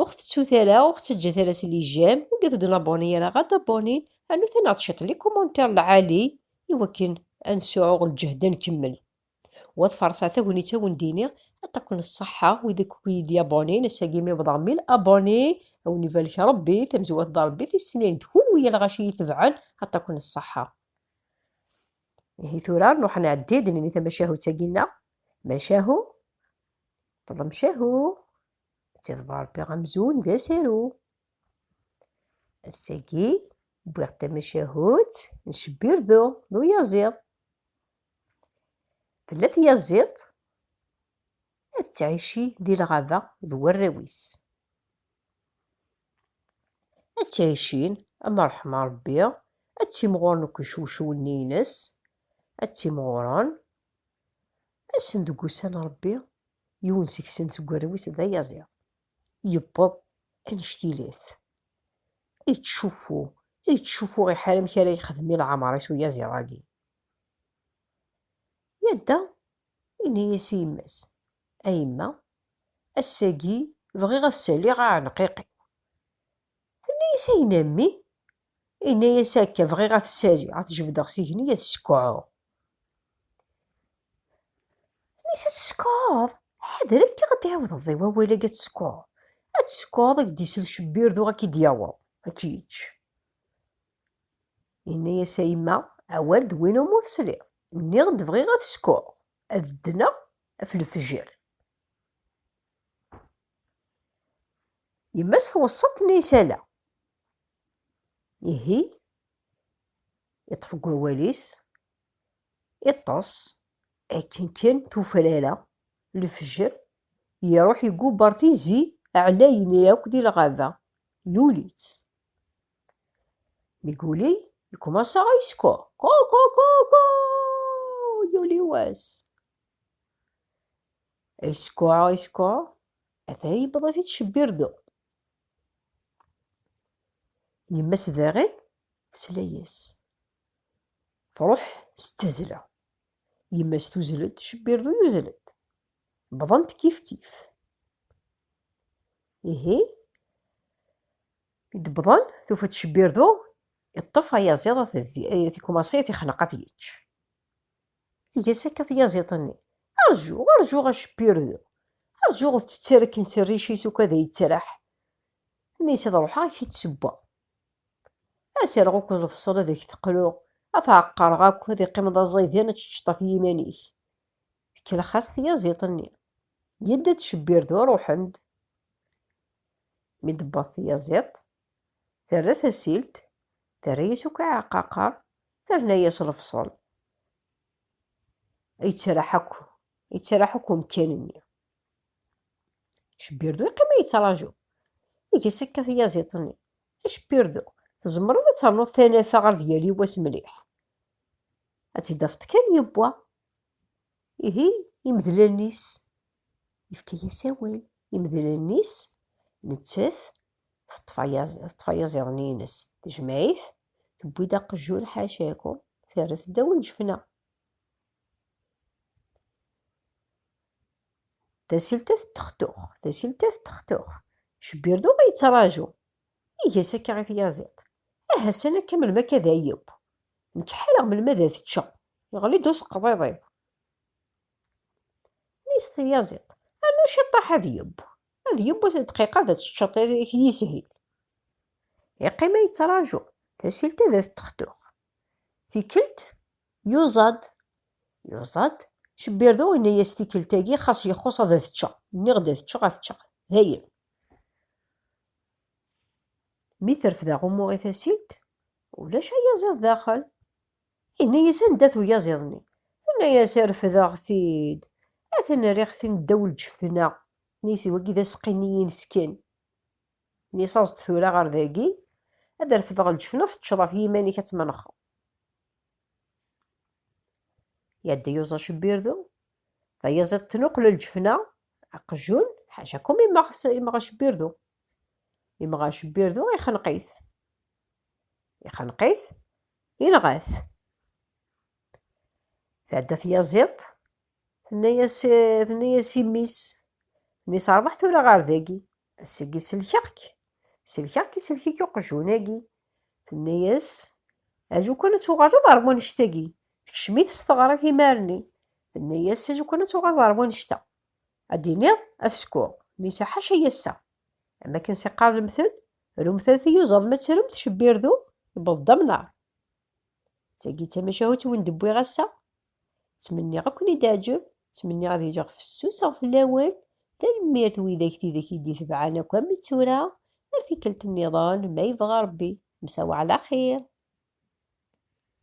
Ur ɣ-tettut ara, ur ɣ-ttaǧǧat ara s lijam, ur gget d naboni ara, ɣad aboni, rnut-aneɣ-d ciṭ li kumantir lɛali i wakken ad nesɛuɣ lǧehd ad nkemmel. U ad farṣeɣ tagnit a wen-d-iniɣ, ṭṭakun ṣṣeḥḥa wid akk i yi-d-yabonin, ass-agi mi wwḍeɣ mil aboni, a wen-ibarek Rebbi, tamezwarut d Rebbi, tis snin d kunwi i lɣaci iyi-tebɛen, ṭṭakun ṣṣeḥḥa. Ihi tura nruḥ nɛeddi-d nini tamacahut-agi-nneɣ, macahu. Ṭlemcahu, ad tiḍbar Ṛebbi amzun d asaru. Ass-agi, wwiɣ tamacahut n Cbirdu d uyaziḍ. Tella tyaziḍt ad tettɛici di lɣaba d warraw-is. Ad ttɛicin am ṛṛeḥma Ṛebbi, ad ttimɣuren akk icewcewen-nni-ines, ad ttimɣuren Ass-n deg ussan Ṛebbi, yiwen seg-sen seg warraw-is d ayaẓiḍ, yewweḍ annect-ilat, ittcuffu, ittcuffu iḥar amek ara yexdem i leɛmeṛ-is uyaziḍ-agi. Yadda, yenna-yas i yemma-s, A yemma, ass-agi bɣiɣ ad saliɣ aɛenqiq-iw. Tenna-yas ayen a mmi, Inna-yas akka, bɣiɣ ad t-saliɣ, ad t-jebdeɣ s igenni, ad t-skeɛɛuɣ. Inna-yas, ad t-skeɛɛuḍ? Ḥader akka ad d-tɛiwdeḍ di wawal-agi ad t-skeɛɛuḍ. Ad t-skeɛɛuḍ, ad k-d-isel cbirdu, ad k-id-yaweḍ, ad k-yečč. Inna-yas, a yemma, awal d win umi tesliḍ. Nniɣ-d bɣiɣ ad t-skeɛɛuɣ, ad ddneɣ ɣef lefjer. Yemma-s tweṣṣa-t tenna isala. Ihi, iṭṭef deg wawal-is, iṭṭes, akken kan tufrara, lefjer, iruḥ igubber tizi ɛlayen akk di lɣaba, yuli-tt. Mi yuli, yekkumasa a yeskuh, ku-ku-ku-ku, yuli wass. Iskua, iskua, ata yewweḍ ad yettcebbir du. Yemma-s daɣen tesla-yas. Truḥ s tezla. Yemma-s tuzzel-d, cebbir du yuzzel-d. Bḍant kifkif. Ihi, mi d-bḍan, tufa-d cebbir du, yeṭṭef ayaziḍ, tikkumaṣi, ad t-ixneq ad t-yečč. Tga-s akka tyaziḍt-nni. Rju, rju a Cpirdu! Rju ur tettar akken s rric-is uko ad yettraḥ. Ini-as ad ruḥeɣ ad k-id-ssewweɣ. Ad s-rreɣ uko lebṣel ad ak-t-qluɣ, ad t-ɛeqqreɣ akk, ad iqqimeḍ aẓaydan ad teččeḍ ɣef yiman-ik. Tkellex-as tyaziḍt-nni. Yedda-d Cpirdu, ruḥen-d. Mi d-tewweḍ tyaziḍt, Terra tasilt, terra-yas akk aɛqaqer, terna-yas lefṣel. Yettraḥ akk, yettraḥ akk umkan-nni. Cbirdu yeqqim a yettraǧu. Iges akka tyaziḍt-nni. A Cbirdu, tzemreḍ ad ternuḍ tanafa ɣer d yali wass mliḥ. Ad tt-id-afeḍ kan yewwa. Ihi imdel allen-is. Yefka-yas awal. Imdel allen-is, nettat teṭṭef ayaziḍen-ines tejmeɛ-it, tewwi-d aqejjun ḥacakum, terra-t ddaw n ljefna. Tasilta tettextux, tasilta tettextux, Cbirdu a yettraǧu, iga-as akka i tyaziḍt, Aha san akka melmi akka ad ayeww, nekk ḥareɣ melmi ad t-ččeɣ, yeɣli-d useqḍiḍ-iw. Nis tyaziḍt, Rnu ciṭṭaḥ ad yeww, Ad yiwet ddqiqa ad teččeḍ ad k-yishil. Iqqim a yettraǧu, tasilt ad t-textuɣ. Tikkelt, yuẓa-d. Yuẓa-d, Cbirdu yenna-yas tikkelt-agi xas yexxuṣ ad t-ččeɣ. Nniɣ-d ad t-ččeɣ, ad t-ččeɣ. Dayen. Mi terfed aɣummu i tasilt, ulac ayaziḍ daxel. Yenna-yas anda-t uyaziḍ-nni? Tenna-yas refdeɣ-t-id, a ten-rriɣ-ten ddaw lǧefna. Nitni wagi d aseqqi-nni-ines kan. Nitni aẓ-d tura ɣer dagi, ad refdeɣ lǧefna teččeḍ ɣef yiman-ik ad tmenxeḍ. Iɛedda yuẓ acebbirdu, d ayaẓ iḍ tnuqel lǧefna, aqjun, ḥacakum immeɣ immeɣ acebbirdu. Immeɣ acebbirdu ixenq-it. Ixenq-it, inɣa-t. Tɛedda tyaziḍt, Tenna-yas tenna-yas i mmi-s, mmi-s rbeḥ tura ɣer dagi, ass-agi selkeɣ-k, selkeɣ-k isellek-ik uqjun-agi. Tenna-yas, aju kan ad tuɣaleḍ ar wanect-agi. Tekcem-it s teɣrit imar-nni. Tenna-yas, aju kan ad tuɣaleḍ ar wanect-a. Ad d-tiniḍ ad t-sekuɣ. Mmi-s ḥaca yassa. Am akken s iqqar lemtel, rumt ad t-iyuzaḍ ma ttrumt cebbi rdu, yewweḍ-d amnar. D tagi i d tamacahut i wen-d-wwiɣ ass-a. Ttmenniɣ ad ken-id-teɛǧeb, ttmenniɣ ad iliɣ fessuseɣ fell-awen. Tanemmirt widak tidak i d-itebɛen akk am i tura, ar tikkelt nniḍen ma yebɣa Rebbi. Msawa ɛla xir.